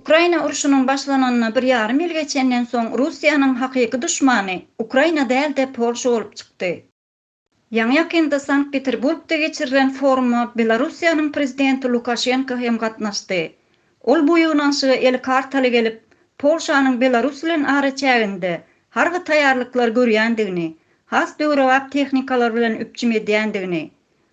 Ukraina urşunyň başlananyna bir ýarym ýyl geçenden soň Russiýanyň hakyky duşmany Ukraina däl-de Polşa bolup çykdy. Ýaňy-ýakynda Sankt-Peterburgda geçirilen foruma Belarussiýanyň prezidenti Lukaşenko hem gatnaşdy. Ol bu ýygnanyşyga eli kartaly gelip, Polşanyň Belarus bilen araçäginde harby taýýarlyklar görýändigini, has döwrebap tehnikalar bilen üpjüm edýändigini,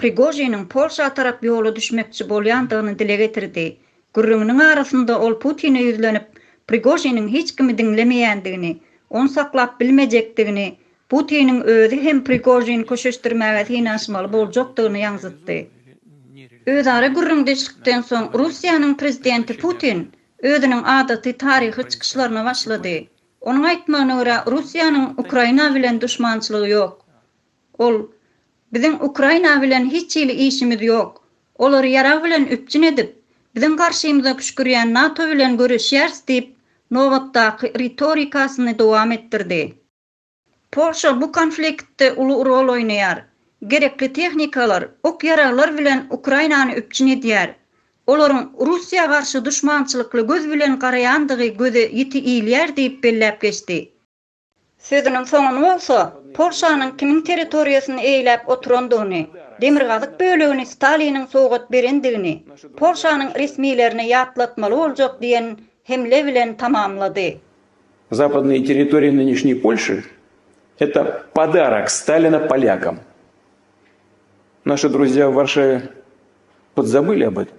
Prigožiniň Polşa tarap ýola düşmekçi bolýandygyny dile getirdi. Gürrüňiniň arasynda ol Putine ýüzlenip, Prigožiniň hiç kimi diňlemeýändigini, ony saklap bilmejekdigini, Putiniň özi hem Prigožini köşeşdirmäge synanyşmaly boljakdygyny ýaňzytdy. Özara gürrüňdeşlikden soň Russiýanyň prezidenti Putin özüniň adaty taryhy çykyşlaryna başlady. Onuň aýtmagyna görä, Russiýanyň Ukraina bilen duşmançylygy ýok. Ol, Biziň Ukraina bilen hiç hili işimiz ýok. Olary ýarag bilen üpjün edip, biziň garşymyza püşkürýän NATO bilen göreşýäris diýip, nobatdaky ritorikasyny dowam etdirdi. Polşa bu konfliktde uly rol oýnaýar. Gerekli tehnikalar, ok-ýaraglar bilen Ukrainany üpjün edýär. Olaryň Russiýa garşy duşmançylykly göz bilen garaýandygy göze ýiti ilýär diýip belläp geçdi. Sözüniň soňuny bolsa, Polşanyň kimiň territoriýasyny eýläp oturandygyny, demirgazyk bölegini Staliniň sowgat berendigini Polşanyň resmilerine ýatlatmaly boljak diýen hemle bilen tamamlady. Zapadnyýe territoriýa nynýeşnýej Polşy, eta podarak Stalina polýakam. Naşy druzýa w Warşawě podzabili ob etom.